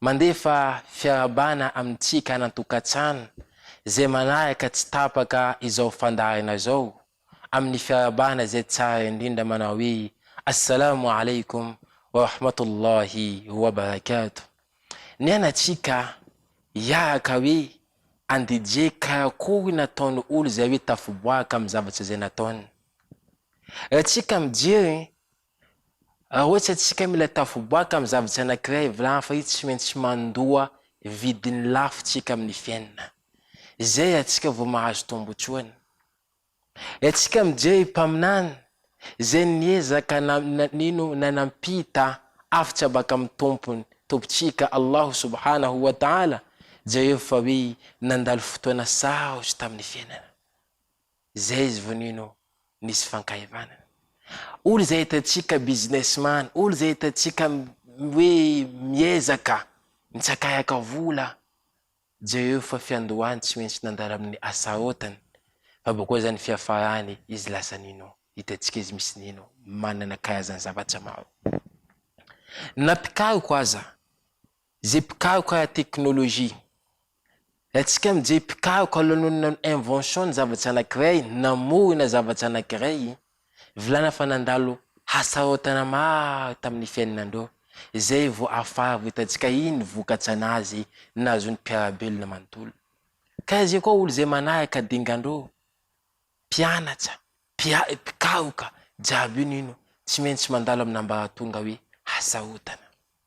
Mandefa fiarahabana amintsika any an-tokantrano izay manaraka tsy tapaka izao fandaharana izao amin'ny fiarahabana izay tsara indrindra manao hoe, Assalamu Alaikum wa Rahmatullahi wa Barakatuh. Nianatsika hiaraka hoe any DJ karakory ny ataon'ny olo izay hoe tafiboaka amin'ny zavatra izay nataony. Raha tsika mijery Raha ohatra isika mila tafaboaka amin'ny zavatra anankiray avy lava io tsy maintsy mandoa vidiny lafo tsika amin'ny fiainana. Izay atsika vao mahazo tombotsoany. Raha tsika mijery ny mpaminany izay niezaka na nino na nampita hafatra baka amin'ny tompony, tompontsika Allahu subhanahu wa ta'ala, jereo fa hoe nandalo fotoana sarotra tamin'ny fiainana. Zay izy vao nino nisy fankahivana. Olo izay hitantsika businessman, olo izay hitantsika hoe miezaka, mitsakayaka vola, jereo io fa fiandohany tsy maintsy nandalo amin'ny Asarotan, fa bokao zany fiafarany izy lasa nino, hitantsika izy misy nino, manana karazany zavatra maro. Na mpikaroka aza, ze mpikaroka ara-teknolojia, Raintsika amin'i Jay mpikaroka ao lanonana Invention ny zavatra anankiray, namorona zavatra anankiray, volana fa nandalo hasarotana maro tamin'ny fiainanandreo, izay vao afara vao hitantsika iny vokatra nazy nahazoan'ny mpiara-belona manontolo. Ka izay koa olo izay manaraka dingandreo, mpianatra, mpiay, mpikaroka, jiaby io nino tsy maintsy mandalo amin'ambaratonga hoe hasarotana.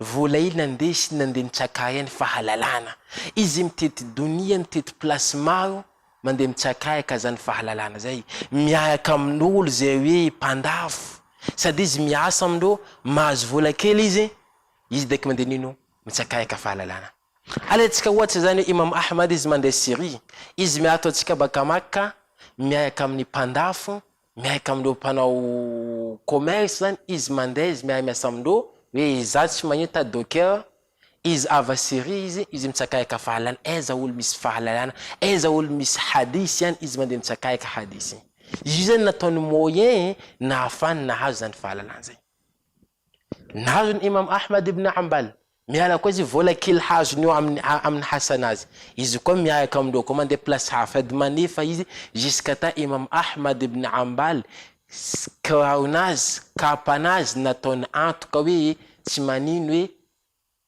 Voalay nandeha sy nandeha nitsakaya ny fahalalana. Izy mitety donia, mitety place maro, mandeha mitsakaya ka zany fahalalana zay. Miaraka amin'olo zay hoe mpandafo, sady izy miasa amindreo, mahazo vola kely izy, izy dek mandeha nino? Mitsakaya ka fahalalana. Alantsika ohatry zany hoe Imam Ahmad izy mandeha Syrie, izy miaritra antsika baka Makka, miaraka amin'ny mpandafo, Miaika amindreo mpanao commerce zany izy mandeha izy miahy miasa amindreo hoe izaho tsy mahita docker izy avy à Syrie izy izy mitsakaika fahalana aiza olo misy fahalalana aiza olo misy hadith ihany izy mandeha mitsakaika hadith io zany nataony moyen nahafahany nahazo zany fahalalana zay. Nahazo ny Imam Ahmad ibn Hanbal, miala koa izy vola kely hazony eo amin'ny amin'ny hasanazy, izy koa miaraka amin'ireo koa mandeha place hafa, sady manefa izy jusqu'ata Imam Ahmad ibn Hanbal kiraronazy, kapanazy nataony antoka hoe tsy manino hoe,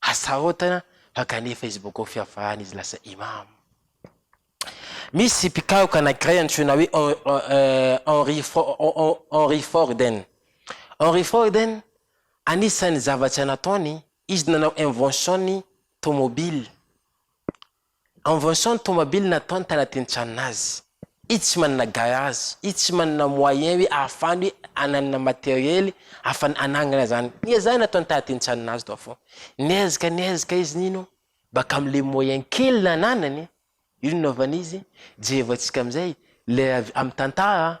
Asaotana fa kanefa izy boko fiavahana izy lasa Imam. Misy mpikaroka anankiray antsoina hoe Henry Henry Forden. Henry Forden, anisan'ny zavatra nataony, izy nanao invention ny tomobile. En vention ny tomabily nataony tanatin'ny tranon'azy. Izy tsy manana garage, izy tsy manana moyen hoe ahafahany hoe ananana materiely ahafahany anangana zany. Niezahany nataony tanatin'ny tranon'azy tao fô. Niezaka niezaka izy nino baka amle moyen kely nananany, io no nanaovan'izy Jehovah antsika amzay le avy am tantara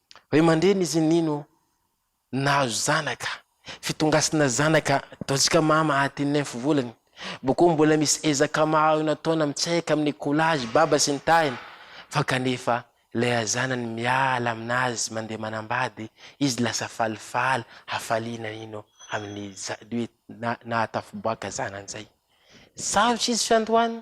Ray aman-dreny izy nino nahazo zanaka, fitongasana zanaka ataontsika mama aty nymph volany, bokeo mbola misy ezaka maro nataona mitsahika amin'ny collage baba sy ny tariny fa kanefa ilay razanany miala aminazy mandeha manambady izy lasa falifaly hafaliana nino amin'ny nahatafo-boaka zanany zay sarotra izy fiandohany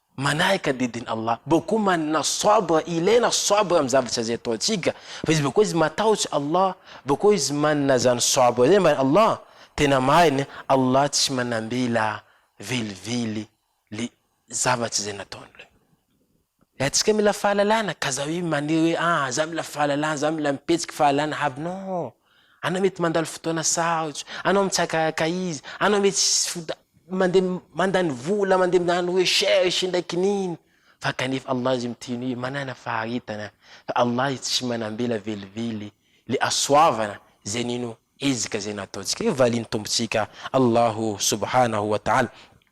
Manahaka didin' Allah. Bôk koa manana Sabra, ilaina Sabra amin'ny zavatra izay ataontsika. Fa izy bôk koa izy matahotra Allah, bôk koa izy manana izany Sabra izany mba Allah. Tena marina, Allah tsy manambela velively le zavatra izay nataony le. Le antsika mila fahalalana, ka za hoe manery hoe ah za mila fahalalana, za mila mipetraka fahalalana aby, non. Anao mety mandalo fotoana sarotra, anao mitsakaka izy, anao mety tsy foda, mandeha mandany vola, mandeha miandry recherche indray kinina, fa kanefa Allah izy miteny hoe manana faharetana, fa Allah izy tsy manambela velively le hasoavana zay nino ezaka zay nataontsika. Io valian'ny Tompontsika Allahu subhanahu wa ta'ala.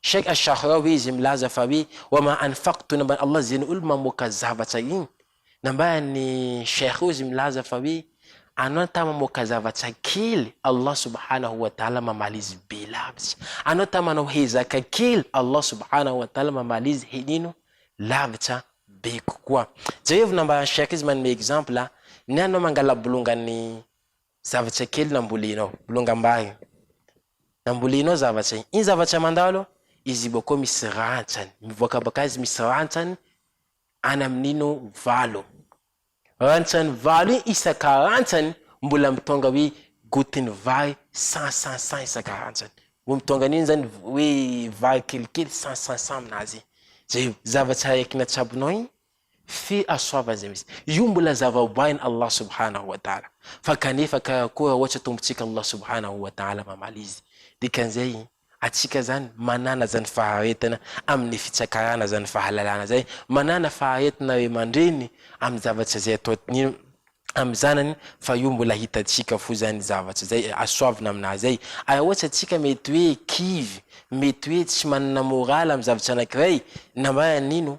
Cheikh Ash-Sha'rawi izy milaza fa hoe, Wa ma anfaqtu nambaran'i Allah izay ny olona mamoaka zavatra iny, nambaran'i Cheikh izy milaza fa hoe, Anao ta mamoaka zavatra kely, Allah subhanahu wa ta'ala mamaly izy be lavitra, anao ta manao hezaka kely, Allah subhanahu wa ta'ala mamaly izy henino lavitra be kokoa. Jereo nambaran'i Cheikh izy manome exemple, Ny anao mangala bolongany Zavatra kely nambolenao. Bolongam-bary. Nambolenao zavatra. Iny zavatra mandalo, izy boko misy rantsany. Mivoaka bakaiza misy rantsany? Any amin'ino valo. Rantsany valo iny isan-karantsany mbola mitônga hoe gotin'ny vary cent cent cent isan-karantsany. Vao mitônga an'iny zany hoe vary kelikely cent cent cent aminazy. Zay, zavatra araiky natsabonao iny Fe asoava izay misy. Io mbola zava-boahin Allah subhanahu wa ta'ala. Fa kanefa ka koa ohatra Tompontsika Allah subhanahu wa ta'ala mamaly izy. Dikan'izay, atsika zany manana zany faharetana amin'ny fitsakarana zany fahalalana zay, manana faharetana ray aman-dreny amin'ny zavatra zay ataony amin'ny zanany fa io mbola hitantsika fo zany zavatra zay asoavina amin'azy zay. Ary ohatra atsika mety hoe kivy, mety hoe tsy manana morale amin'ny zavatra anankiray, na mba nino,